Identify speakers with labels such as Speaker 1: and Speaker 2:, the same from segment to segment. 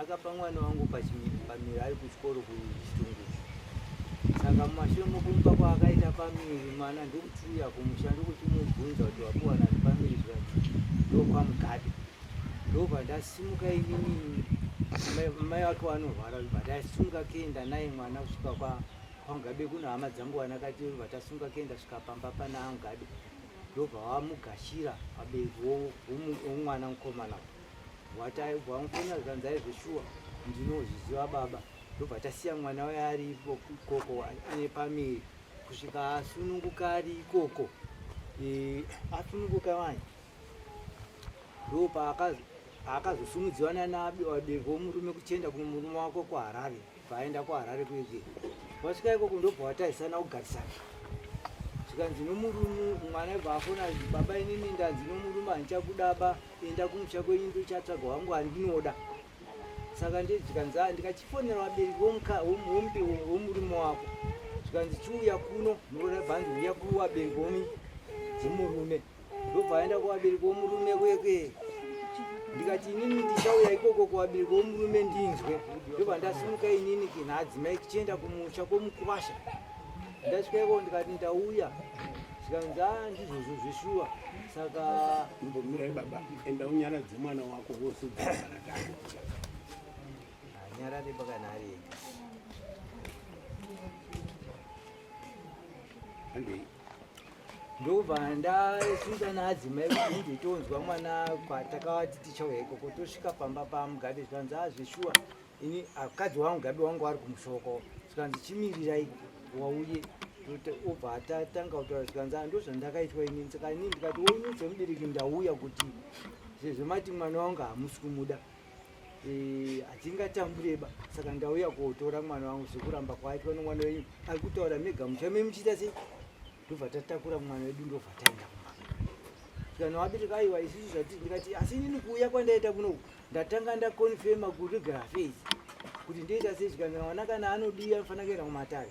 Speaker 1: akapa mwana wangu pamiri ari kuchikoro kuchitungu saka mumashure mokumupa kwaakaita pamiri mwana ndikutuya kumusha ndikuchimubvunza kuti wakuwana pamiri zvai ndokwamugadi ndobva ndasimuka inini mai wake wanorwara bva ndasimuka kenda naye mwana kusvika kwa kwamugabe kuno hama dzangu wanakati bva tasunga kenda svika pamba pana amugabe ndobva wamugashira abereki womwana mukomana wataibvamufona zvikanzi aizveshuwa ndinozviziva baba ndobva tasiya mwana waye ari ikoko ane pamiri kusvika asununguka ari ikoko asununguka vanyi ndo paakazosumudziwa nanawabereki womurume kuchienda kumurume wako kuharare paaenda kuharare kuege wasvika ikoko ndobva watarisana kugarisana zvikanzi nomurume mwana ibva afona baba inini ndanzi nomurume handichakudaba enda kumusha kwenyu ndochatsvaga wangu handinoda saka ndezvikanzi a ah, ndikachifonera vabereki womurume wako zvikanzi chiuya kuno ndoda bhanzi uya kuvabereki womi dzemurume ndobva aenda kuvabereki vomurume kwekwe ndikati inini ndichauya ikoko kuvabereki vomurume ndinzwe ndobva ndasimuka inini kinhaadzimai kichienda kumusha kwomukwasha ndasvika ikoko ndikati ndauya zvikanzi a ah, ndizvozvo zveshuwa saka imbomirai
Speaker 2: baba enda unyaradze mwana wako wose
Speaker 1: anyarare pakana ari ega ndobva ndasvika naadzimai kunge tonzwa mwana kwatakavati tichauya ikoko tosvika pamba pamugabe zvikanzi a zveshuwa ini akadzi wangu gabe wangu ari kumushoko zvikanzi chimirirai wauye obva atatanga kutaura zvikanzi a ndozvandakaitwa ini saka ini ndikati woinudze mubereki ndauya kuti sezvo mati mwana wangu hamusi kumuda Eh, hatingatambureba saka ndauya kuotora mwana wangu zvekuramba kwaitwa nomwana wenyu ari kutaura mega muchame muchiita sei ndobva tatakura mwana wedu ndobva taenda kana wabereka aiwa isusu zvatiri ndikati asi inini kuuya kwandaita kunoku ndatanga ndakonfema kuregal affairs kuti ndoita sei zvikanzi mwana kana anodii anofanira kuenda kumatare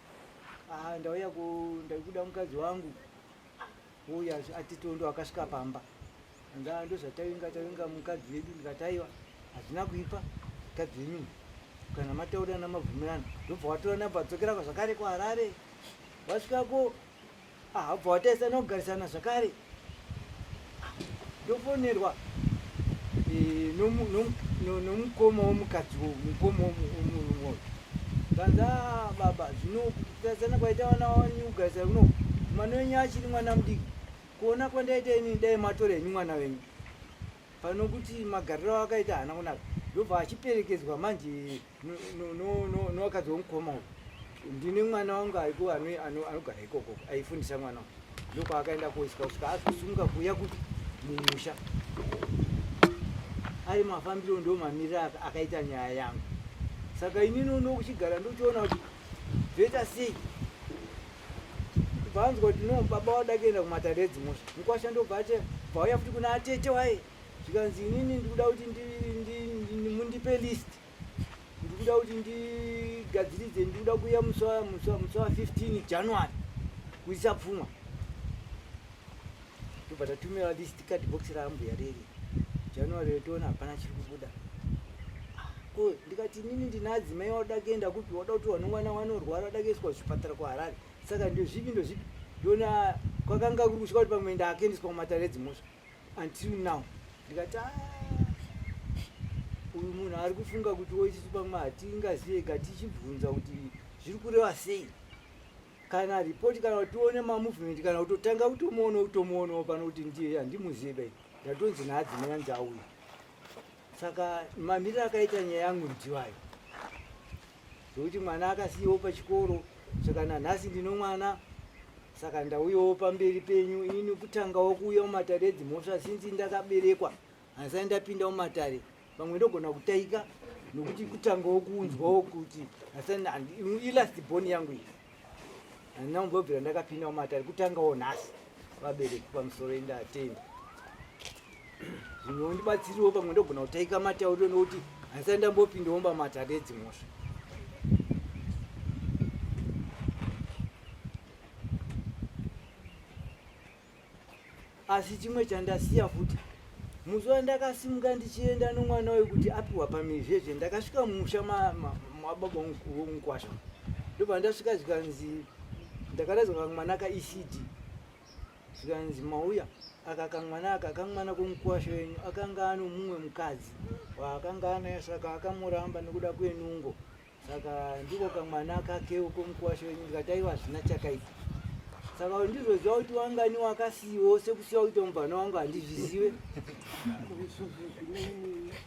Speaker 1: Ah, ndauya ku ndaikuda mukadzi wangu uya atitondo akasvika pamba ndaa ndozvatavinga tavinga mukadzi vedu ndikataiwa hazvina kuipa mukadzi venyu kana mataurirana mabvumirana ndobva watora namba dzokera kwazvakare kuharare wasvikako Ah, bva wataisa nogarisana zvakare ndofonerwa eh, nomukoma womukadzi wo mukoma womurume wo kanza ah, baba zvino kutarisana kwaita vana wanyu kugarisana kuno mwana wenyu achiri mwana mudiki kuona kwandaita ini dai matora henyu mwana wenyu panokuti magariro akaita haana kunaka ndobva achiperekedzwa manje nowakadzi womukoma uyu ndine mwana wangu aiko anogara ikoko aifundisa mwana wangu ndokwaakaenda koiswa kusvika azosumuka kuuya kuti mumusha ari mafambiro ndo mamiriro akaita nyaya yangu saka inini uno kuchigara ndochiona kuti zvoita sei kubva anzwa kuti no baba wadakenda kumatare edzimosha mukwasha ndobva ate vauya futi kuna atete waye zvikanzi inini ndikuda kuti mundipe list ndikuda kuti ndigadziridze ndikuda kuuya musi wa 15 january kuisa pfuma tobva tatumira list card box raambuya reri january yotoona hapana chiri kubuda ko ndikati inini ndina adzimai wada kuenda kupi wada kuti wano mwana wanorwara wada kuiswa zvipatara kuharare saka ndozvipi ndozvipi ndona kwakanga kuri kusvika kuti pamwe ndaakendiswa kumatare edzimhosva until now ndikati ah, uyu munhu ari kufunga kuti woitisu pamwe hatingazive ka tichibvunza kuti zviri kureva sei kana ripoti kana kutione mamovement kana kutotanga kutomuono kutomuonawo pano kuti ndiye handimuzive bai ndatonzi naadzimai anzi auya saka mamiriro akaita nyaya yangu ndiwayo zvekuti mwana akasiyiwo pachikoro saka nanhasi ndino mwana saka ndauyawo pamberi penyu ini kutangawo kuuya mumatare edzimhosva sinzi ndakaberekwa handisai ndapinda mumatare pamwe ndogona kutaika nokuti kutangawo kunzwawo kuti ilast boni yangu iyi handina kumbobvira ndakapinda mumatare kutangawo nhasi vabereki pamusoro endatenda zvimwe ndibatsiriwo pamwe ndogona kutaika matauriro nokuti handisati ndambopindawo pamatare edzimhosva asi chimwe chandasiya futi musi wandakasimuka ndichienda nomwana uyu kuti apiwa pamizvezve ndakasvika mumusha mababa vomukwasha ndobva ndasvika zvikanzi ndakaraidza kamwana kaecd zvikanzi mauya aka kamwana aka kamwana komukwasha wenyu akanga ano mumwe mukadzi waakanga anaye saka akamuramba nekuda kwenungo saka ndiko kamwana kake uko mukwasha wenyu ndikati aiwa hazvina chakaita saka ndizoziva kuti wangani wakasiiwo sekusiya kuita mubvana wangu handizvizive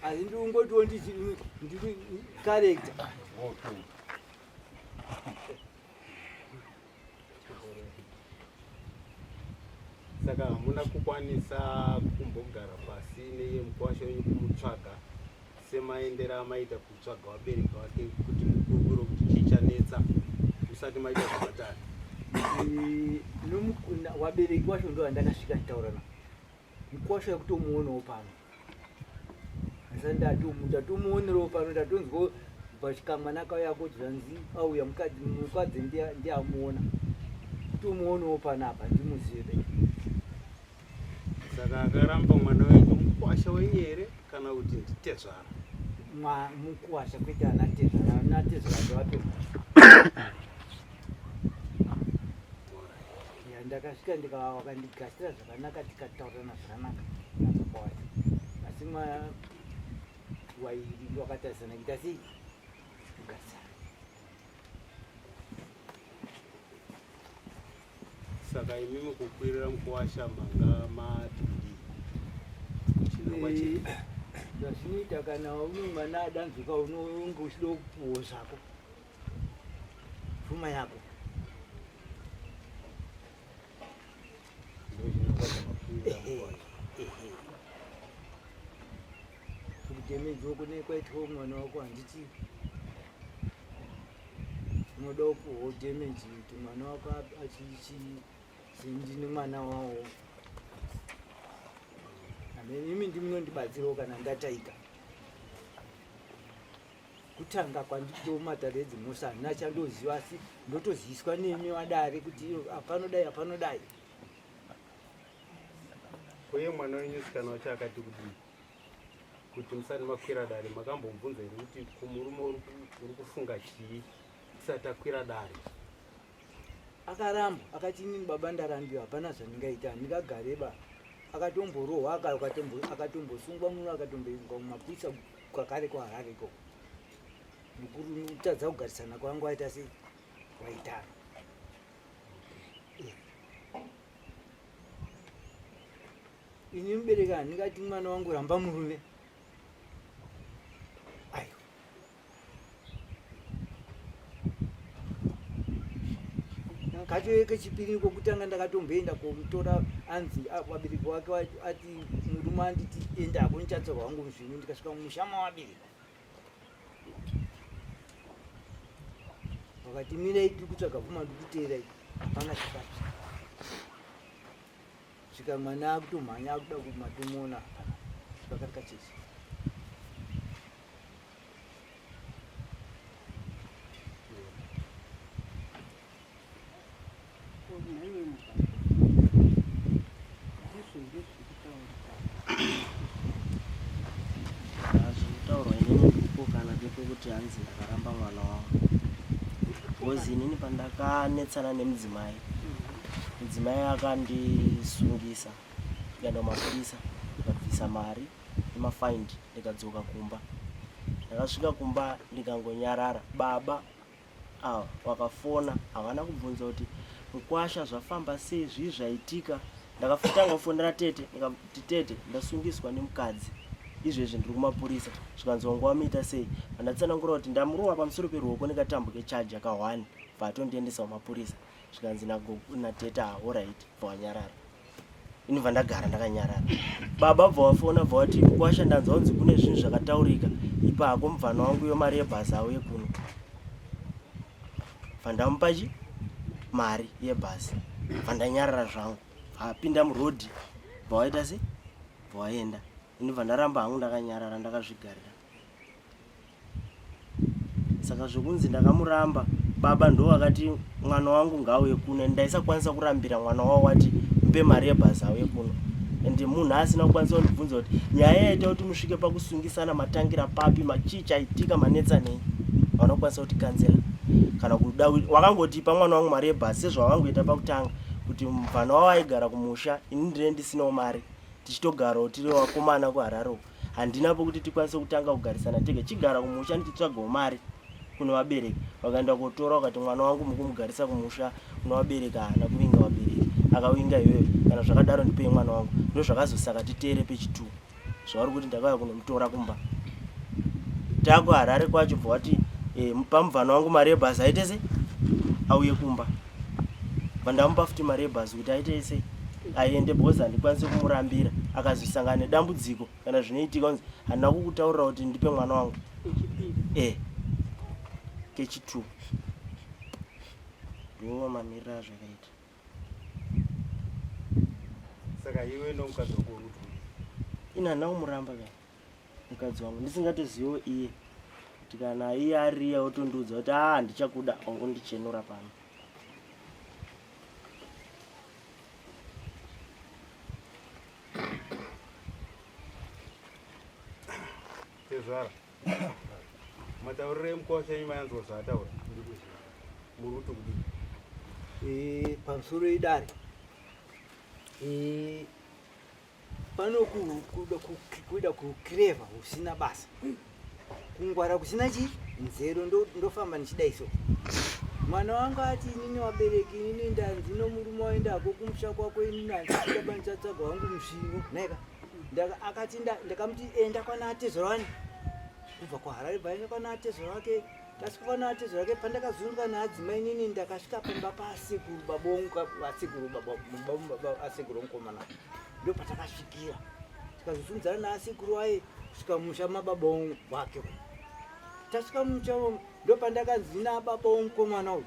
Speaker 1: asi ndikungotiwo ndiri karekta
Speaker 2: saka hamuna kukwanisa kumbogara pasi neye mukwasha wenyu kumutsvaga semaendera amaita kutsvaga vabereki vake kuti mukurukuro kuti chichanetsa musati maita zvavatani
Speaker 1: wabereki wacho ndo andakasvika nditaura na Mkwasha akutomuonawo pano asi ndatomuonerewo pano ndatonzwa pachikamwana kauya kuti zvanzi auya mukadzi ndiamuona tomuonawo pano apa ndimuzive be
Speaker 2: saka akaramba mwana wenyu mukwasha wenyu here kana kuti nditezvara
Speaker 1: mukwasha kwete ana tezvara ana tezvara ndovatoa ya ndakasvika ndikava vakandigashira zvakanaka tikataurirana zvakanaka nababa wacho asi ma wairi wakatarisana kuita sei kugasira
Speaker 2: saka imi mukukwirira mukuwasha manga madii chinangwa chii Eh, zvazvinoita
Speaker 1: kana une mwana adanzwika unonge uchida kupuwo zvako Fuma yako. Kutemedzi wako nekwaitwa mwana wako handiti unoda kupuhwa damage kuti mwana wako achichi sindini mwana wawo imi ndimunondibatsirawo kana ndataika kutanga kwanditomata redzi musa handina chandoziva asi ndotoziswa nemi vadare kuti apanodai apanodai
Speaker 2: uye mwana wenyu sikana wacho akati kudii kuti musati makwira dare makambomubvunza here kuti kumurume uri kufunga chii tisati akwira dare akaramba
Speaker 1: akati inini baba ndarambiwa hapana zvandingaita ndingagareba akatomborohwa akatombosungwa muno akatomboiswa mumapurisa kwakare kwaharare ikoko ndikutadza kugarisana kwangu aita sei waitana ini mubereki handingati mwana wangu ramba murume aiwa katove kechipiri kokutanga ndakatomboenda komutora anzi vabereki wake ati murume anditi enda hako ndichatsorwa wangu muzvinhu ndikasvika mumusha mawabereki vakati mirai tiri kutsvaga pfuma ndikuteerai hapana chakati svika mwana akutomhanya akuda kumatomuona pakati kachechi
Speaker 3: kuti hanzi ndakaramba mwana wangu bcoz inini pandakanetsana nemudzimai mudzimai akandisungisa ndikaenda kumapurisa ndikabvisa mari nemafaindi ndikadzoka kumba ndakasvika kumba ndikangonyarara baba ava vakafona havana kubvunza kuti mukwasha zvafamba sei zvii zvaitika ndakafutanga kufonera tete ndikati tete ndasungiswa nemukadzi izvezvi ndiri kumapurisa zvikanzi wangu wamuita sei vandatsanangura kuti ndamurova pamusoro peruoko nekatambo kechaji akahwani bva atondiendesa kumapurisa zvikanzi nateta horit bva wanyarara ini bva ndagara ndakanyarara baba bva wafona bva wati kwasha ndanzwa kunzi kune zvinhu zvakataurika ipako mubvana wangu yo mari yebhazi auye kuno bva ndamupachi mari yebhazi bva ndanyarara zvangu apinda murodhi bva waita se bva waenda ini bva ndaramba hangu ndakanyarara ndakazvigarira saka zvekunzi ndakamuramba baba ndo vakati mwana wangu ngauye kuno and ndaisakwanisa kurambira mwana wavo wati mpe mari yebhazi auye kuno and munhu asina kukwanisa kundibvunza kuti nyaya yaita kuti musvike pakusungisana matangira papi machii chaitika manetsa nei vanokwanisa kuti kanzela kana kuda wakangotipa mwana wangu mari yebhazi sezvawangoita pakutanga kuti mvana wavo aigara kumusha ini ndine ndisinawo mari tichitogarawo tiri vakomana kuhararoko handina pokuti tikwanise kutanga kugarisana tega chigara kumusha ndichitsvagawo mari kune vabereki vakaenda kotora ukati mwana wangu mukumugarisa kumusha kune vabereki haana kuvinga vabereki akavinga iyoyo kana zvakadaro ndipei mwana wangu ndozvakazosaka titere pechitu zvauri kuti ndakauya kunomutora kumba takuharare kwacho bva wati eh, pamuvana wangu mari yebhazi aitese auye kumba vandamupa futi mari yebhazi kuti aite ese aende because handikwanise kumurambira akazosangana nedambudziko kana zvinoitika kunzi handina kukutaurira kuti ndipe mwana wangu e kechitwo ndiwo mamiriro azvakaita
Speaker 2: saka iwe nomukadzi wako ina handina
Speaker 3: kumuramba kana mukadzi wangu ndisingatozivo iye kuti kana iye ariya otondiudza kuti aa ah, ndichakuda ongondichenura pano
Speaker 2: tezvara matauriro emukosha enyu mayanzwa zvaataura muri kuti kudii eh, pamusoro
Speaker 1: idare eh, Pano kuda kuda kuclever usina basa. Kungwara kusina chi nzero ndo ndofamba nichida iso. Mwana wangu ati inini wabereki inini ndanzi no murume waenda hako kumusha kwako inini ndandida banichatsvaga wangu musvingo. Naika. Ndaka akati ndakamuti enda kwana atezorani. Kubva kwa Harare bva enda kwana atezorake. Masikuvana ati zvake pandakazunzwa naadzimai nini ndakasvika pamba pasekuru babonga vasekuru asekuru mukomana ndo patakasvikira tikazozunzana naasekuru aye kusvika musha mababongo wake tasvika musha ndo pandakanzi naababongo mukomana uyu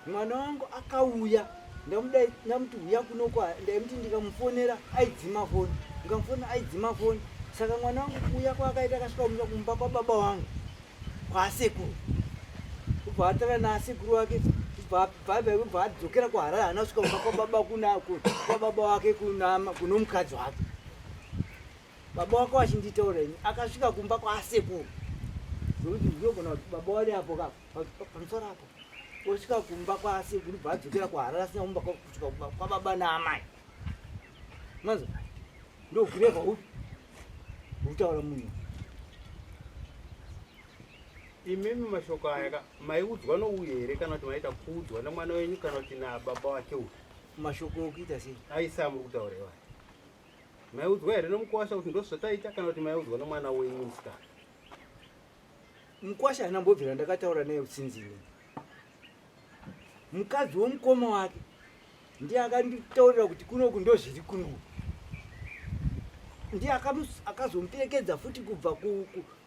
Speaker 1: mwana wangu akauya ndamudai ndamuti huya kunokwa ndaimuti ndikamufonera aidzima foni ndikamufonera aidzima foni saka mwana wangu kuuya kwaakaita akasvika kumira kumba kwababa wangu kwaasekuru kubva atara naasekuru wake kubva adzokera kuharare haana svika kumba kwababa kunako kwababa wake kunomukadzi wake baba wako vachinditaura ini akasvika kumba kwaasekuru zvokuti ndinogona kuti baba wari apo ka pamusoro apo osvika kumba kwaasekuru bva adzokera kuharara asina kumba kusvika kumba kwababa naamai manzo ndokureva upi ukutaura munhu
Speaker 2: imimi mashoko aya ka maiudzwa nouye here kana kuti maita kuudzwa nemwana wenyu kana kuti nababa wake uyu mashoko okuita
Speaker 1: sei aisa amuri kutaura
Speaker 2: iwaya Maiudzwa here nomukwasha kuti ndozvataita kana kuti maiudzwa nomwana wenyu musikana?
Speaker 1: Mukwasha haana mbobvira ndakataura naye sinzi ini. Mukadzi womukoma wake ndiye akanditaurira kuti kunoku ndozviri kunoku. Ndiye akazomuperekedza futi kubva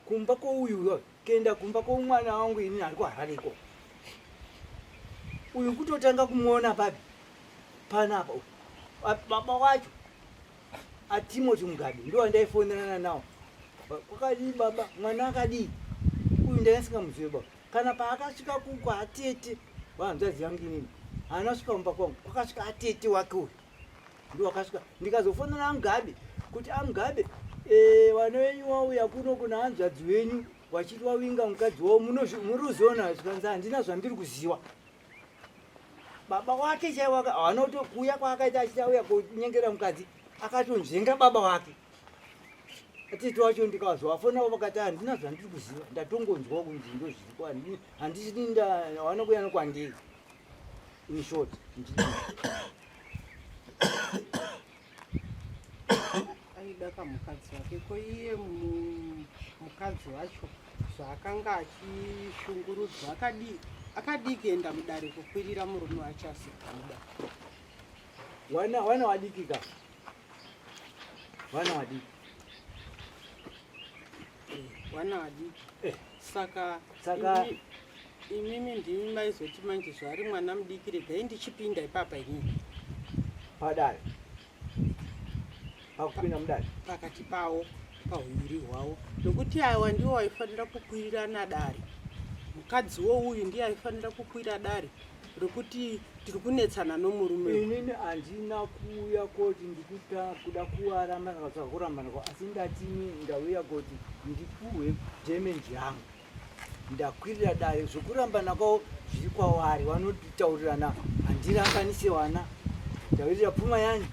Speaker 1: kumba kwouyu uyoyo. kuenda kumba kwomwana wangu ini ari kuharare iko uyu kutotanga kumuona papi panapa baba wacho atimoti mugabe ndo andaifonerana nawo kwakadii baba mwana akadii uyu ndaisingamuzive baba kana paakasvika kuko atete wahanzvadzi yangu inini haana svika mumba kwangu kwakasvika atete wake uyu ndiwakasvika ndikazofonera amugabe kuti amugabe eh, vana venyu wauya kuno kuna hanzvadzi venyu vachiti wawinga mukadzi wavo muri uziona zvikanzi handina zvandiri kuziva baba wake chaivo havana kuti kuuya kwaakaita achiti auya kunyengera mukadzi akatonzvenga baba wake atiti wacho ndikazovafonavo vakati handina zvandiri kuziva ndatongonzwa kunzi ndozviriko handisini ndawana kuya nokwandiri In short,
Speaker 4: aida kamukadzi wake ko iye mukadzi wacho zvaakanga achishungurudzwa akadii akadii kuenda mudare kukwirira murume wacho asikamuda wana
Speaker 1: wana wadiki ka wana wadiki
Speaker 4: Wana adiki. Eh. Saka saka imimi ndimi maizoti manje zvari mwana mudiki regai ndichipinda ipapa inini. Padare.
Speaker 1: Pakupinda mudare. Pakati pawo
Speaker 4: pahuviri hwawo nokuti awa ndiwo waifanira kukwirirana dare mukadzi wo uyu ndiye aifanira kukwira dare rokuti tiri kunetsana nomurume inini handina
Speaker 1: kuuya koti ndikuda kuarambana katsva kurambana kwa asi ndatini ndauya koti ndipuhwe damage yangu ndakwirira dare zvekurambana kwavo zviri kwavari vanotitaurirana handirambanise wana ndavirira pfuma yani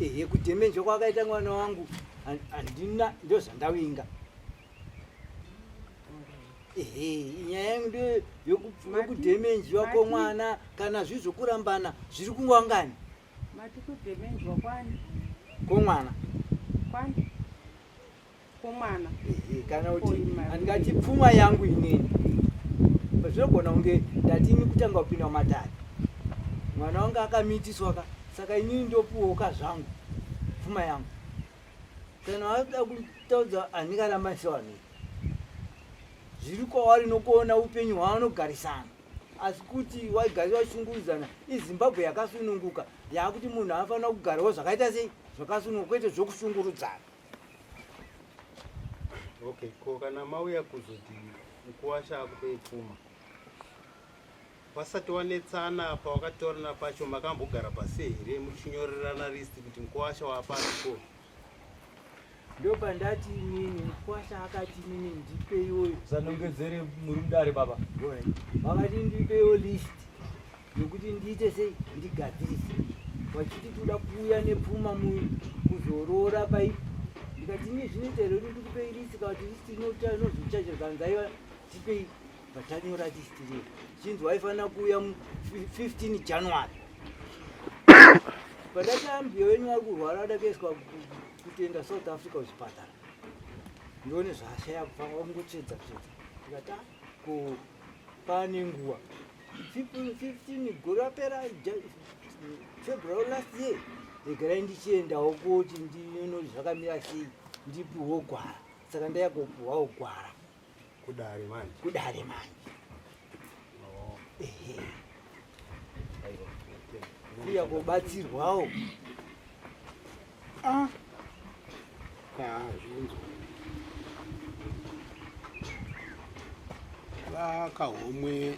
Speaker 1: ehe kudamage kwakaita mwana wangu handina ndozvandavinga nyaya yangu ndiyo yokudhemenjiwa kwomwana kana zvii zvokurambana zviri kungwangani mati
Speaker 4: kudhemenjiwa kwani kwomwana
Speaker 1: kwani
Speaker 4: kwomwana kana
Speaker 1: kuti handingati pfuma yangu inini zvinogona kunge ndati ini kutanga kupinda mumatare mwana wangu akamiitiswa ka saka inini ndopuwoka zvangu pfuma yangu kana wada kutaudza anika ramaisewane zviri kwavari nokuona upenyu hwaanogarisana asi kuti waigari vashungurudzana izimbabwe yakasununguka yaakuti munhu anofanira kugarawo zvakaita sei zvakasununguka kwete zvokushungurudzana
Speaker 2: okay ko kana mauya kuzoti mukuwasha akupe pfuma Vasati wanetsana apa wakataurana pacho makambogara pasi here muchinyorerana list kuti mkwasha waapako
Speaker 1: ndopandati inini mkwasha akati inini ndipeiwo zanongedzere
Speaker 5: murundare baba vakati
Speaker 1: ndipeiwo list yokuti ndiite sei ndigadzirise vachiti toda kuuya nepfuma kuzorora paipo ndikati ini zvinoita here kuti ndikupei list kavati list inozochaja zvanzaiva tipei Patanyora list riye chinzi waifanira kuuya 15 January. Padaka mbiyo wenyu wari kurwara adakaiswa kutenda South Africa kuchipatara. Ndione zvashaya kufamba kungotsvedza tsvedza. Ndikata ku pane nguwa 15 gore rapera February last year regerai ndichiendawo kuti ndinono zvakamira sei ndipiwo gwara saka ndaya kupiwawo gwara Kudare
Speaker 2: manje. Kudare manje.
Speaker 1: Oh. Ehe. Kuya kubatsirwawo. Ah.
Speaker 6: Ah, zvinzo. Vakahomwe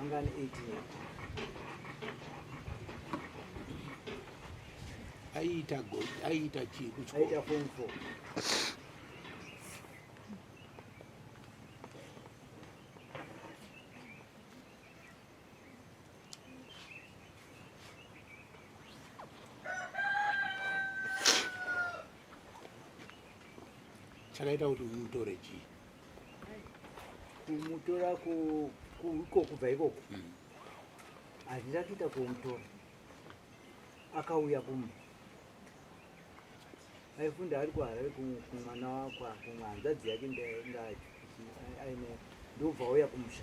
Speaker 1: angani 18 aiita
Speaker 6: gold aiita chii kuchikoro aiita form 4 chakaita kuti umutore chii
Speaker 1: kumutora iko kubva ikoko handina kuita kumutora akauya kumba aifunda ari kuharare kumwana wakwa kumwe hanzvadzi yake ndaacho aine ndobva auya kumusha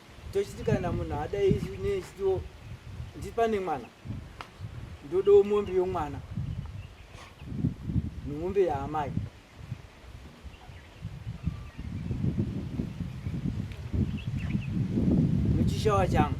Speaker 1: tochiti kana munhu adai isu nechitiwo ndipane mwana ndodawo mombe yomwana nemombe yaamai muchishawa changu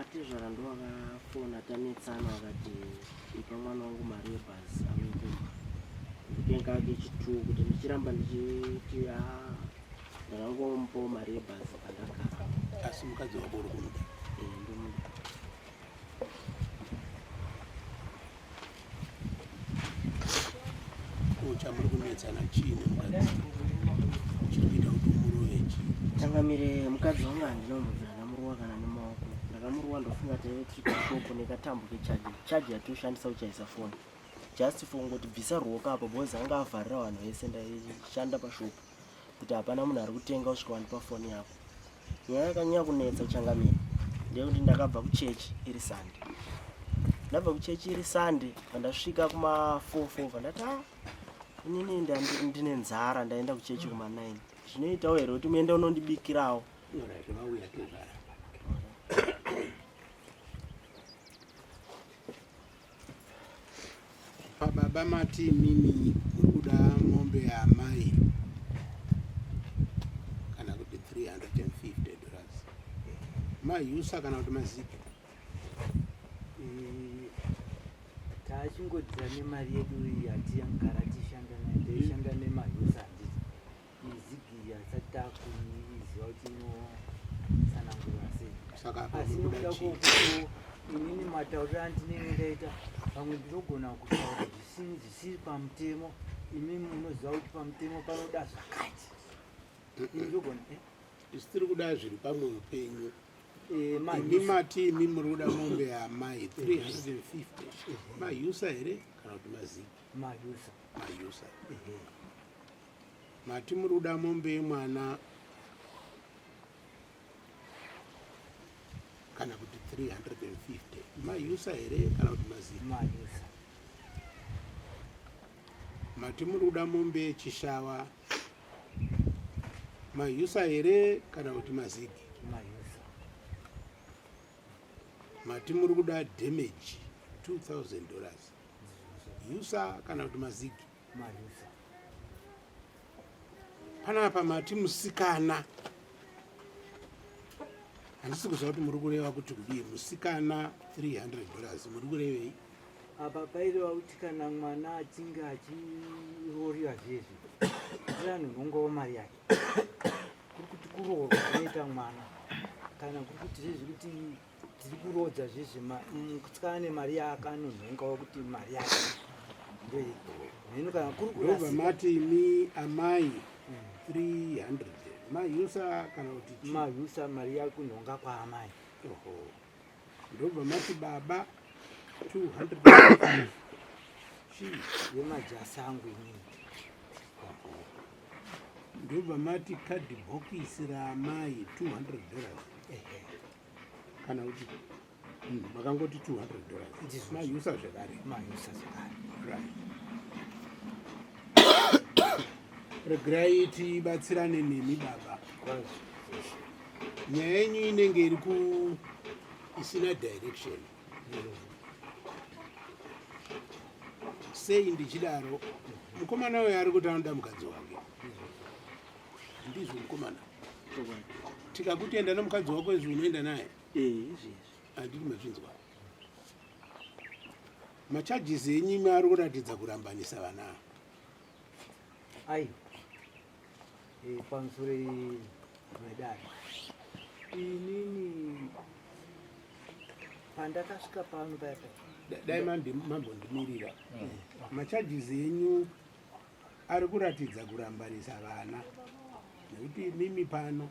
Speaker 3: Atezvara ndo vakafona tanetsana vakati ipa mwana wangu mari yebhazi amekumba ndikenga ake chituwo kuti ndichiramba ndichiti a ah, ndakangomupawo mari yebhazi pandagara asi mukadzi
Speaker 6: wako uri kumuda eh, ndomuda chamuri kunetsana chii nemukadzi chiri kuita kuti umurove chii changamire mukadzi
Speaker 3: wangu handinombobvira ndamurowa kana nemaoko ndakamurowa ndofunga taive tiri kushoko nekatambo kechaji chaji yatinoshandisa kuchaisa foni just for kungoti bvisa ruoko apo bhozi anga avharira vanhu vese ndaishanda pashopu kuti hapana munhu ari kutenga usvika wandipa foni yako nyaya yakanyanya kunetsa changamira ndeyekuti ndakabva kuchechi iri sande ndabva kuchechi iri sande pandasvika kuma4 4 pandati a inini ndine nzara ndaenda kuchechi kuma9 zvinoitawo here kuti muende unondibikirawo
Speaker 6: Pababa mati mimi kuda mombe yaamai kana kuti 350 dollars mayusa kana kuti maziki mm,
Speaker 1: taachingodzira nemari yedu iyi hatiya mugara tishanda naye taishanda nemayusa Izigi haisati takuiziva kuti inosanangura sei. Saka apa Asi uri kuda nokuda chii? kwokuti inini matauriro andinenge ndaita pamwe ndinogona kutaura zvisini zvisiri pamutemo imi munoziva kuti pamutemo panoda zvakati Ini ndogona eh, Isu
Speaker 6: tiri kuda zviri pamwe upenyu. eh, Imi manhisi. mati imi muri kuda mombe yaamai 350 mayusa here kana kuti maziki majusa mayusa Ehe. Mati muri kuda mombe yemwana kana kuti 350 mayusa here kana kuti mazima mati muri kuda mombe yechishava mayusa here kana kuti mazigi mati muri kuda damage 2000 dollars yusa kana kuti mazigi Malusa. Panapa mati musikana. Handisi kuziva kuti muri kureva kuti kudii musikana 300 dollars muri kurevei? Apa paireva
Speaker 1: kuti kana mwana achinge achiroorera zvezvi kuri anhu nongowo mari yake kuri kuti kuroorwa kunoita mwana kana kuri kuti zvezvi kuti dziri kuroodza zvezve kutsvana nemari yakanonhongawo kuti mari yake ndohino kana kuri kurova mati imi
Speaker 6: amai 300 hmm. mahusa kana kuti mahusa mari yari
Speaker 1: kunhonga kwaamai oho
Speaker 6: ndobva mati baba 200 chii
Speaker 1: yemajasi angu inini
Speaker 6: ndobva mati kadhibhokisi raamai 200 dollars kana kuti hmm, makangoti 200 dollars mayusa zvekare mayusa zvekare right regerai tibatsirane nemi baba nyaya yenyu inenge iri ku isina direction sei ndichidaro mukomana uyo ari kuti anoda mukadzi wake Ndizvo mkomana. Tikakutenda nomukadzi wako izvi unoenda naye. Eh, izvi. Andiri mazvinzwa. Macharges enyu mari kuratidza kurambanisa vana.
Speaker 1: Ayi. Eh, pamusure madari. Inini pandakasvika pano paya paya. Dai
Speaker 6: mambo ndimirira. Mm. Macharges enyu Ari kuratidza kurambanisa vana nekuti mimi pano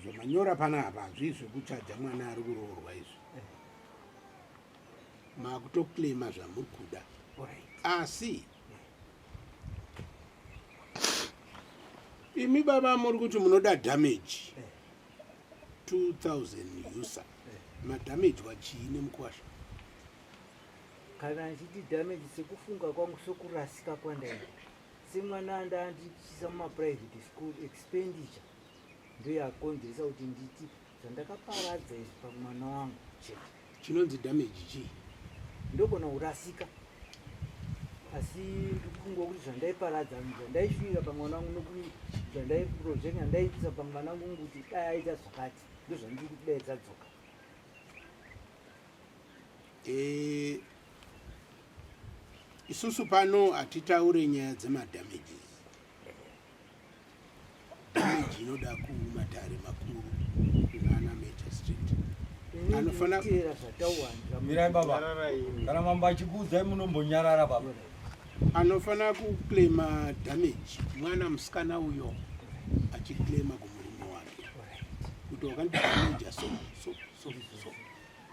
Speaker 6: zvamanyora pano apa hazvii zvekuchaja mwana ari kuroorwa izvi makutoklema zvamuri kuda asi imi baba muri kuti munoda damage 2000 user madamage wachii nemukwasha kana
Speaker 1: ndichiti damage sekufunga kwangu sokurasika kwandaita semwana andandityisa mumaprivate school expenditure ndoyakonzeresa kuti nditi zvandakaparadza izvi pamwana wangu chete chinonzi damage
Speaker 6: chii ndogona
Speaker 1: kurasika asi ndikufungwa kuti zvandaiparadza zvandaishuira pamwana wangu nokuti zvandaiproject andaiitisa pamwana wangu kuti dai aita zvakati ndozvandiri kudaidza dzoka
Speaker 6: Eh, isusu pano hatitaure nyaya dzemadamages damage inoda kumatare makuru kunana magistrate anofanira
Speaker 1: Teera zvatawanda. mirai baba
Speaker 5: kana mambo achikuudzai munombonyarara baba anofanira
Speaker 6: kuclaima damage mwana musikana uyo achiclaima kumurume wake kuti wakandidamaja so so so so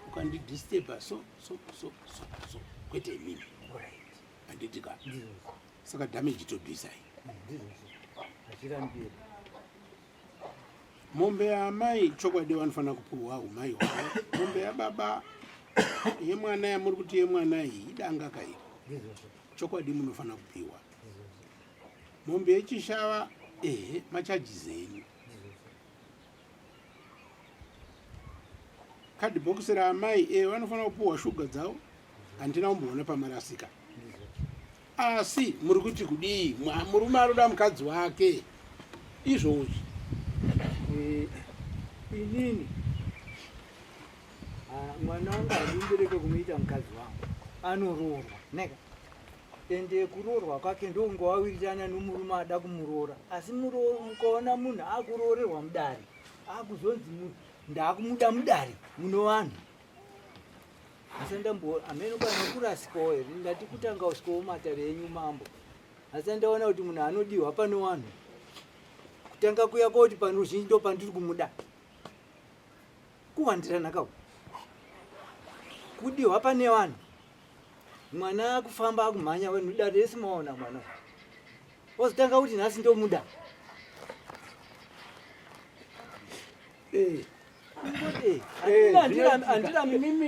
Speaker 6: ukandidisturba so so so so so kwete imini handiti ka saka damage tobvisai mombe yaamai chokwadi vanofanira kupiwa umai hwavo mombe yababa yemwana yamuri kuti yemwana iyi idanga kairi chokwadi munofanira kupiwa mombe yechishava ehe machajizi enyu kadhibhokisi raamai e vanofanira kupuhwa shuga dzavo handina kumboona pamarasika asi muri kuti kudii murume anoda mukadzi wake izvozvi eh,
Speaker 1: inini ah, mwana wangu handimbereke kumuita mukadzi wangu anoroorwa neka ende kuroorwa kwake ndokunge wawirirana nomurume ada kumuroora asi mukaona munhu akuroorerwa mudare akuzonzi ndakumuda mudare muno vanhu asi ndambo amene kana kurasikawo here ndati kutanga usikawo matare enyu mambo asi andaona kuti munhu anodiwa pano wanhu kutanga kuya koti pano ruzhinji ndo pandiri kumuda kuwandirana kaku kudiwa pane vanhu mwana akufamba akumhanya wenu dare rese maona mwana ozotanga kuti nhasi ndomuda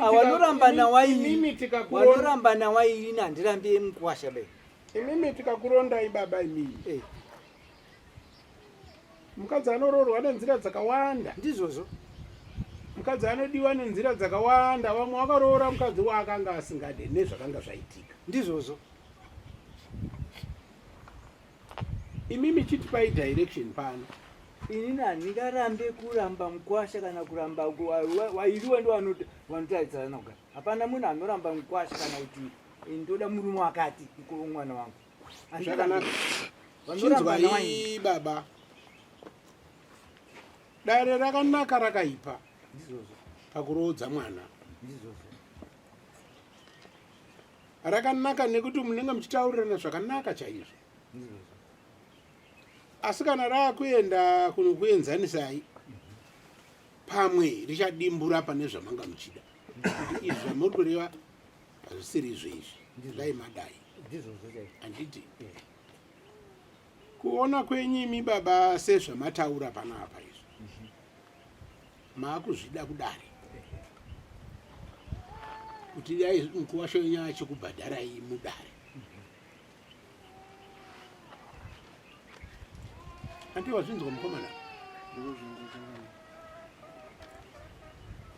Speaker 1: awanoramba nawainoramba nawaini handirambi emukwasha be imimi
Speaker 6: tikakurondai baba imimi mukadzi anoroorwa nenzira dzakawanda ndizvozvo
Speaker 1: mukadzi
Speaker 6: anodiwa nenzira dzakawanda vamwe vakaroora mukadzi waakanga asingade nezvakanga zvaitika ndizvozvo imimi chitipai direction pano inini
Speaker 1: handingarambe kuramba mukwasha kana kuramba wairiwe ndo vanotaridzana kuga hapana munhu anoramba mukwasha kana kuti ndoda murume wakati mwana wangu
Speaker 6: chinzwai baba dare rakanaka rakaipa
Speaker 1: pakuroodza
Speaker 6: mwana rakanaka nekuti munenge muchitaurirana zvakanaka chaizvo asi kana raakuenda kunokuenzanisai pamwe richadimbura pane zvamanga muchida izvi zvamuri kureva hazvisiri izvo izvi dai madai handiti kuona kwenyu imi baba sezvamataura panapa izvi mhm. maakuzvida kudari kuti dai mukuwasho yenyu achikubhadharai mudare andiwazvinzwa mukomana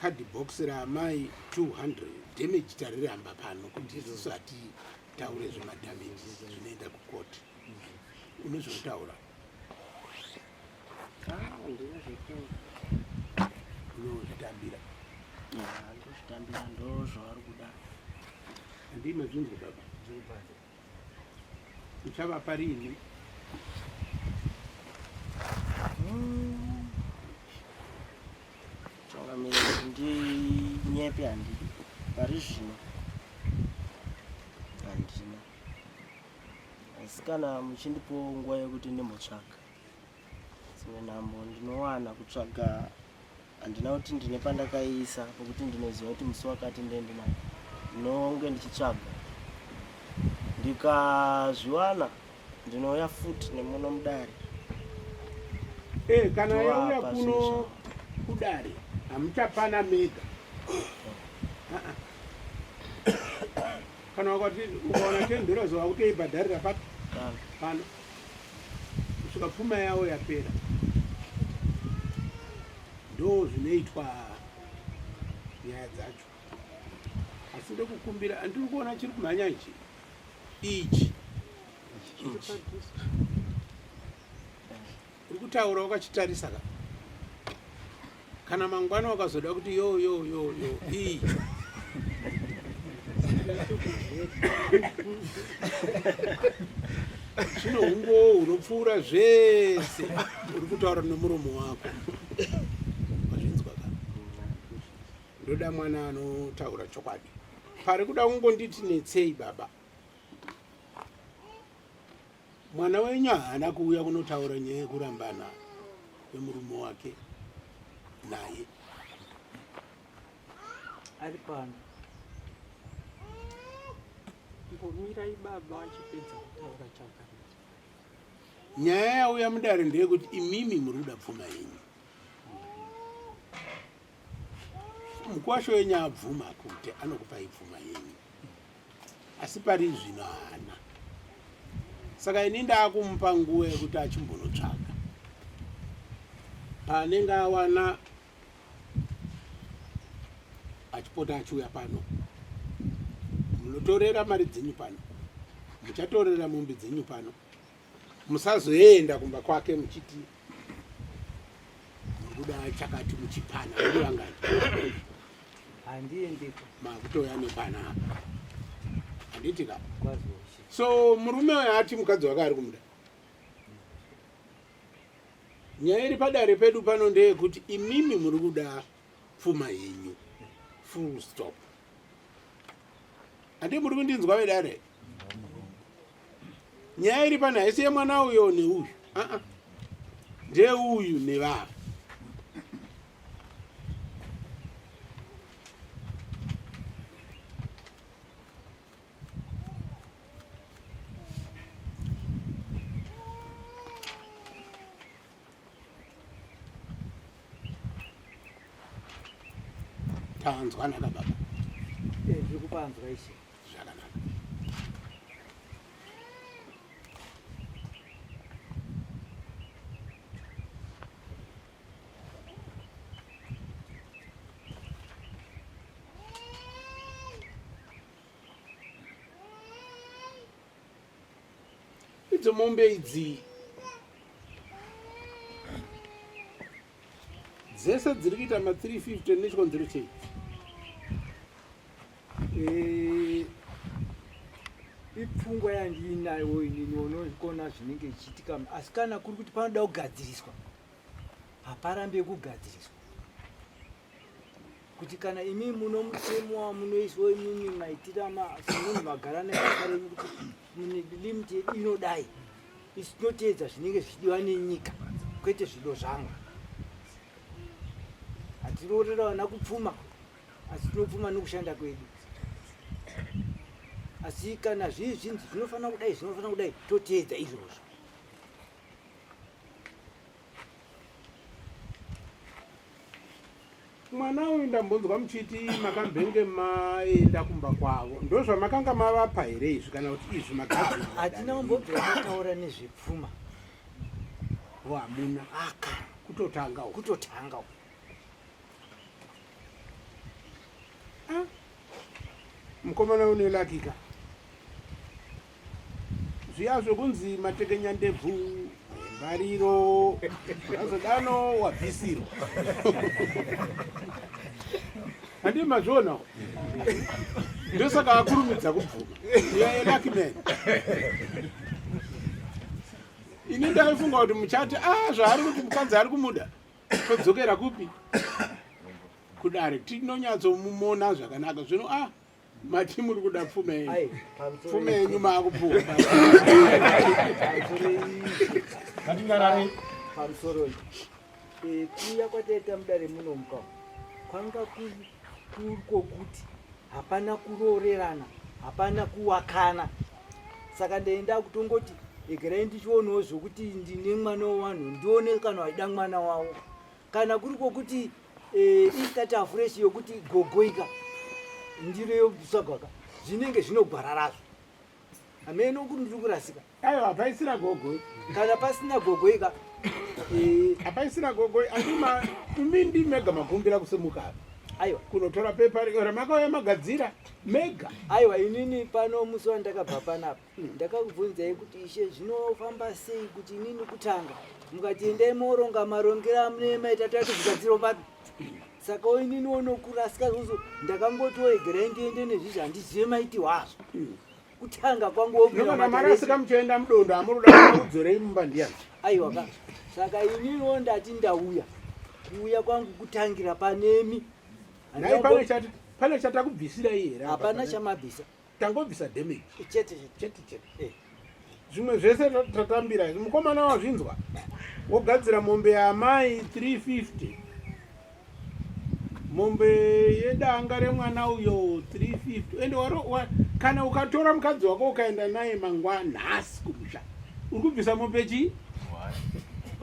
Speaker 6: card box raamai 200 damage tariramba pano kuti isusu hatitaure zvemadamage zvinoenda kukoti unezvekutaura unozvitambira
Speaker 3: ndozvaari kuda
Speaker 6: ndimazvinzi baba Uchavapa rini?
Speaker 3: Changamire kuti ndinyepe handi pari zvino handina, asi kana muchindipo nguva yekuti ndimbotsvaka dzimwe nhambo ndinowana kutsvaga handina kuti ndine pandakaiisa pokuti ndinoziva kuti musi wakati ndendinayo ndinonge ndichitsvaga ndikazviwana ndinouya futi nemuno mudare eh,
Speaker 6: kana yauya kuno kudare hamuchapana mega kana wakati ukaona tendero zova kutoibhadharira papi pano kusvika pfuma yavo yapera ndo zvinoitwa nyaya dzacho asi ndokukumbira andiri kuona chiri kumhanya ichi ichi ichi uri kutaura wakachitarisa ka kana mangwana wakazoda kuti yo yo yo yo iyi zvino hungowo hunopfuura zvese uri kutaura nemuromo wako wazvinzwa ka ndoda mwana anotaura chokwadi pari kuda kungonditi netsei baba Mwana wenyu haana kuuya kunotaura nyaya yekurambana kwemurume wake naye
Speaker 1: ari pano
Speaker 4: mbomirai baba vachipedza kutaura chaka
Speaker 6: nyaya yauya mudare ndeyekuti imimi muri kuda pfuma yenyu mukwasho wenyu abvuma kuti anokupai pfuma yenyu asi pari zvino haana saka ini ndaakumupa nguva yekuti achimbonotsvaga paanenge awana achipota achiuya pano munotorera mari dzenyu pano muchatorera mombe dzenyu pano musazoenda kumba kwake muchiti murikuda chakati muchipana uri vangani
Speaker 1: handiendiko makutouya
Speaker 6: nepana apa handiti ka so
Speaker 1: murume
Speaker 6: uyo ati mukadzi wake ari kumuda nyaya iri padare pedu pano ndeyekuti imimi muri kuda pfuma yenyu full stop handi muri kundinzwa vedare nyaya iri pano haisi yemwana uyo neuyu aa ndeuyu nevava tanzwanaka baba eh, zviri
Speaker 1: kupanzwa ishe zvakanaka
Speaker 6: Idzo mombe idzi dzese dziri kuita ma 350 nechikonzero chei eh,
Speaker 1: ipfungwa yandiinayo inini unozvikona zvinenge zvichiitika asi kana kuri kuti panoda kugadziriswa haparambe kugadziriswa kuti kana imi muno mutemo wamunoiswa imimi maitira semunhu magara nebasa renyu kuti limit yedu inodai isi tinoteedza zvinenge zvichidiwa nenyika kwete zvido zvangu hatiroorera vana kupfuma asi tinopfuma nokushanda kwedu asi kana zvii zvinzi zvinofanira kudai zvinofanira kudai toteedza izvozvo
Speaker 6: mwana uyu ndambonzwa muchiti makambenge maenda kumba kwavo ndozvamakanga mavapa here izvi kana kuti izvi makahatina umbobvira
Speaker 1: mataura nezvepfuma ho hamuna
Speaker 6: aka kutotanga
Speaker 1: kutotanga
Speaker 6: ah, mukomana unelakika zviya zvokunzi matekenya ndebvu mbariro azodano wabvisirwa handii mazvionawo ndosaka akurumidza kubvuma yelakiman ini ndaifunga kuti muchati a ah, zvaari kuti mukadzi ari kumuda todzokera kupi kudare tinonyatsomumona zvakanaka zvino a ah, mati muri kuda pfume yenyu pfume yenyu maakupfuwa atingarare
Speaker 1: pamusoro eh, kuya kwataita mudare muno muka kwanga kurikokuti hapana kuroorerana hapana kuwakana saka ndaenda kutongoti egerai ndichionawo zvokuti ndine mwana wevanhu ndione kana waida mwana wavo kana kuri kwokuti eh, istata fresh yokuti gogoika ndiro yobisagwaka zvinenge zvinogwara razvo hameno kuti ndiri kurasika aiwa hapaisira
Speaker 6: gogoi kana pasina
Speaker 1: gogoika eh,
Speaker 6: hapaisira gogoi andima imi ndi mega makumbira kusimuka apa aiwa kunotora
Speaker 1: pepa ri-
Speaker 6: ramakauya magadzira mega aiwa inini
Speaker 1: pano musi wandakabva panapa Ndakakubvunzai kuti ishe zvinofamba sei kuti inini kutanga mukati endai moronga marongero amune maita tati zvigadziro papi saka inini wonokurasika zvozo ndakangoti woegerai ndiende nezvizvi handizive maiti wazvo kutanga kwangu wokuamarasika
Speaker 6: muchienda mudondo amuruda kudzorei mumba ndiyani aiwa ka
Speaker 1: saka inini wo ndati ndauya kuuya kwangu kutangira panemi
Speaker 6: pane chatakubvisira iye hapana chamabvisa
Speaker 1: tangobvisa
Speaker 6: damage chete chete
Speaker 1: chete eh. zvimwe
Speaker 6: zvese tatambira izvi mukomana wazvinzwa wogadzira mombe yaamai 350 mombe yedanga remwana uyo 350 ende waro kana ukatora mukadzi wako ukaenda naye mangwa nhasi kumusha uri kubvisa mombe chii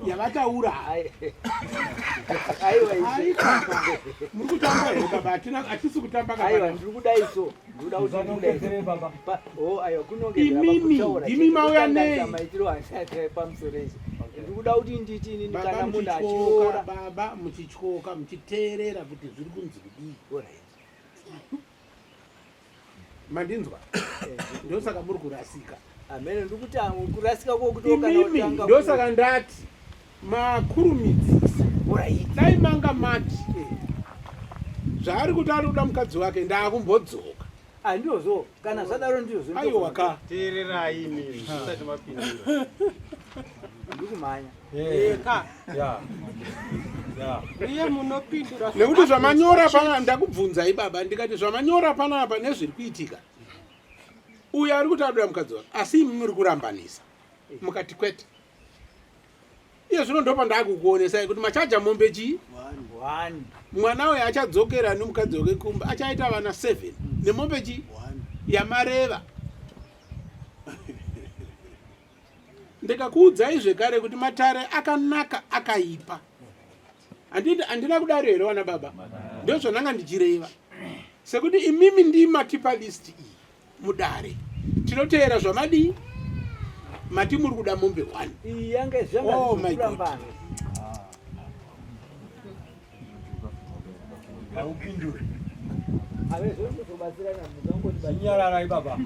Speaker 6: yavataura muri kutamba here baba hatina hatisi kutamba kaaiwa ndiri kudai so
Speaker 1: imi
Speaker 6: mauya nei
Speaker 1: ndikuda kuti nditi ini kana munhu achiora baba muchityoka
Speaker 6: muchiteerera kuti zviri kunzi kudii mandinzwa eh, ndosaka muri kurasika amene ndikuti
Speaker 1: kurasika kwokutokana ndosaka
Speaker 6: ndati makurumidzisa dai manga mati zvaari kuti ari kuda mukadzi wake ndaakumbodzoka ah, ndiozo
Speaker 1: kana zvadaro ndiozo aiwa ka teererai
Speaker 6: imi
Speaker 2: zvisati mapindura
Speaker 1: ndikumhanya eh, ka
Speaker 4: nekuti zvamanyora
Speaker 6: pana ndakubvunzai baba ndikati zvamanyora panapa nezviri kuitika uyo ari kuti adoda mukadzi wake asi imi muri kurambanisa mukati kwete iye zvino ndopa ndakukuonesai kuti machaja mombe chii mwana uyo achadzokera nomukadzi wake kumba achaita vana seven mm. nemombe chii yamareva ndikakuudzai zvekare kuti matare akanaka akaipa handina kudaro here wana baba ndozvandanga ndichireva sekuti imimi ndimatipa list iyi mudare tinoteera zvamadii mati muri kuda mombe one oh
Speaker 1: my god
Speaker 6: haupinduri
Speaker 1: nyararai
Speaker 5: baba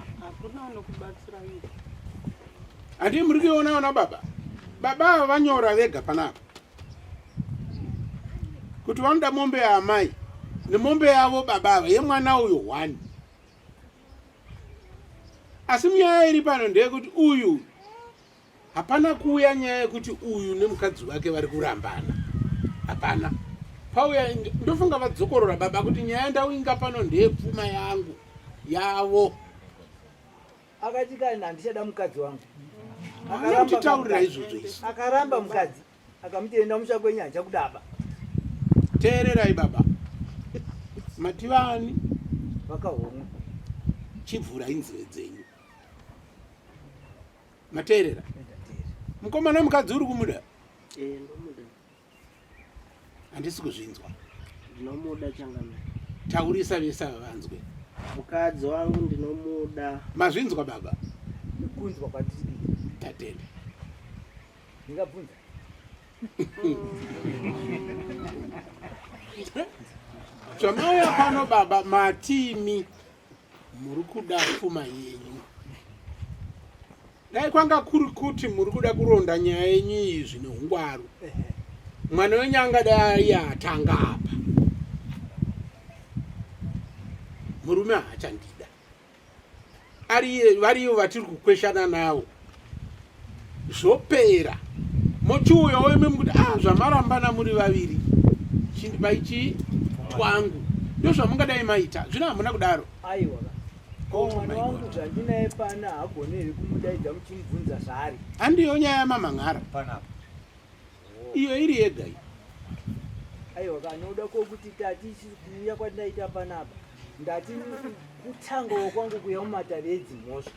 Speaker 6: handii muri kuiona ona baba baba ava vanyora vega panapa kuti vanoda mombe yaamai nemombe yavo baba ava yemwana uyo one asi nyaya iri pano ndeyekuti uyu hapana kuuya nyaya yekuti uyu nemukadzi wake vari kurambana hapana pauya ndofunga vadzokorora baba kuti nyaya ndauinga pano ndeyepfuma yangu yavo
Speaker 1: akati kana handichada mukadzi wangu anoutitaurira
Speaker 6: izvozvo akaramba mukadzi
Speaker 1: akamuti enda musha kwenyu haja kudaba teererai baba
Speaker 6: mativani
Speaker 1: vakahomwa
Speaker 6: chivhura inzeve dzenyu mateerera
Speaker 1: mukomana mukadzi
Speaker 6: uri kumuda eh, handisi kuzvinzwa ndinomuda
Speaker 3: changamire taurisa vese
Speaker 6: ava vanzwe mukadzi
Speaker 3: wangu ndinomuda mazvinzwa baba
Speaker 6: kunzwa
Speaker 1: kwatiri tatenda
Speaker 6: ndingabvunza chamauya pano baba matimi muri kuda pfuma yenyu dai kwanga kuri kuti muri kuda kuronda nyaya yenyu iyi zvine ungwaru mwana wenyu angadai atanga apa murume haachandii variyo vatiri kukweshana navo zvopera mochiuya woime mukuti a ah, zvamarambana muri vaviri vaichii twangu ndo zvamungadai maita zvino hamuna kudaro
Speaker 1: oh mwana wangu zvandinaye pana hagone here kumudaidza muchimubvunza zvaari handiyo nyaya
Speaker 6: yamamhan'ara panapa iyo iri yega iyi
Speaker 1: aiwa kanoda kokuti tati kuuya kwandinaita panapa ndati kutangawo kwangu kuya mumatavi edzimhosva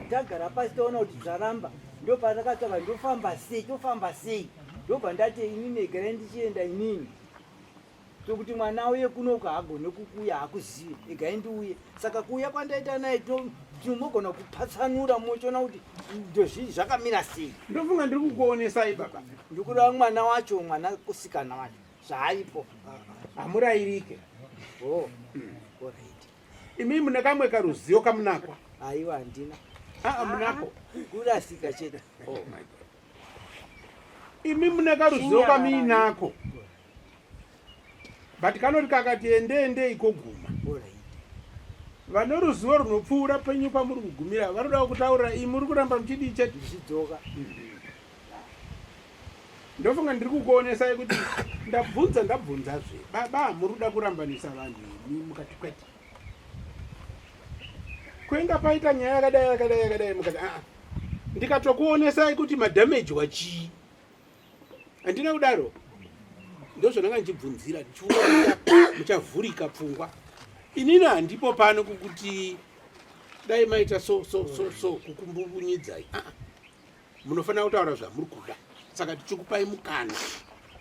Speaker 1: tagara pasi taona kuti dzaramba ndopatakatava ndofamba sei tofamba sei ndobva ndati ini negara ndichienda inini tokuti mwana auye kuno uko haagone kukuuya haakuzive egai ndiuye saka kuuya kwandaita naye tinomogona kupatsanura mochiona kuti ndozvii zvakamira sei ndofunga ndiri kukuonesai
Speaker 6: baba ndikuda mwana
Speaker 1: wacho mwana kusikana wacho zvaaipo hamurayirike oh, imi mune kamwe
Speaker 6: karuzivo kamunako aiwa handina
Speaker 1: aa ah, munako
Speaker 6: kurasika
Speaker 1: chete oh,
Speaker 6: imi mune karuzivo kamuinako but kanoti kakati endeendei koguma vanoruzivo runopfuura penyu pamuri kugumira vanoda kutaurira iyi muri kuramba muchidii chete zvidzoka ndofunga ndiri kukuonesai kuti ndabvunza ndabvunzazve baba hamuri kuda kurambanisa vanhu imi mukati kwete kwenga paita nyaya yakadai yakadai yakadai mukati aa ah, ndikatokuonesai kuti madamage wachii handina kudaro ndozvandanga ndichibvunzira ndichiona muchavhurika pfungwa inini handipo pano kukuti dai maita so so so so kukumbunyidzai ah, ah. munofanira kutaura zvamuri kuda saka tichikupai mukana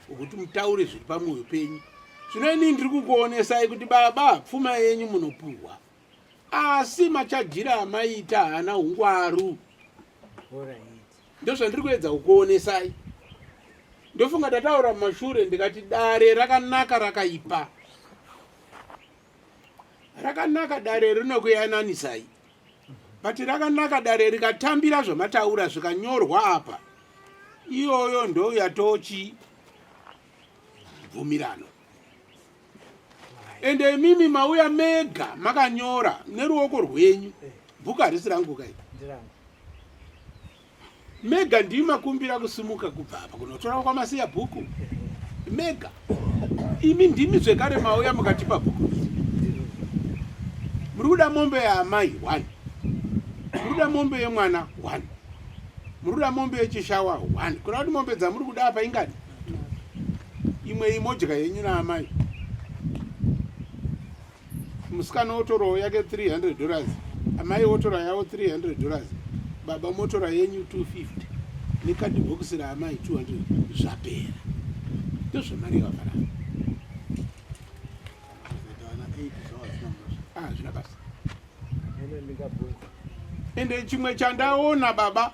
Speaker 6: wekuti mutaure zviri pamwoyo penyu zvino inini ndiri kukuonesai kuti baba pfuma yenyu munopuhwa asi machajira amaita haana ungwaru Ndozvandiri kuedza kukuonesai. Ndofunga tataura mumashure ndikati dare rakanaka rakaipa. Rakanaka dare rinokuyananisai. But rakanaka dare rikatambira zvamataura zvikanyorwa apa. Iyoyo ndouya tochi bvumirano. ende imimi mauya mega makanyora neruoko rwenyu bhuku harisi rangu kai mega ndii makumbira kusimuka kubva apa kunotora kwamasiya bhuku mega imi ndimi zvekare mauya mukatipa bhuku muri kuda mombe yaamai one muri kuda mombe yemwana one muri kuda mombe yechishawa one kuna kuti mombe dzamuri kuda apa ingani imwe imodya yenyu naamai musikana otorawo yake 300 dollars amai otora yavo 300 dollars baba motora yenyu 250 nekadhibhokisi raamai 200 zvapera ndozvamari yavafara ah, zvina basa ende chimwe chandaona baba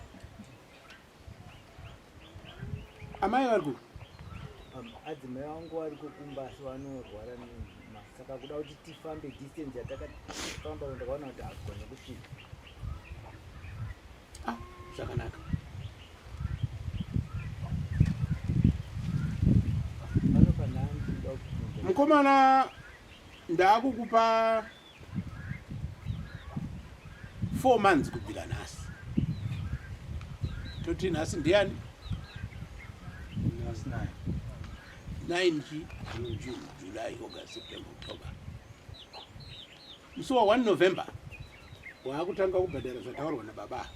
Speaker 6: amai vari ku
Speaker 1: adzimai vangu vari kukumba asi vanorwara nini saka kuda kuti tifambe distance yatakafamba ndakaona kuti agone kusvika
Speaker 6: ah, zvakanaka mukomana ndaakukupa 4 months kubvira nhasi toti nhasi ndiani nine chi june june july august september october musi wa 1 november waakutanga kubhadhara zvataurwa nababa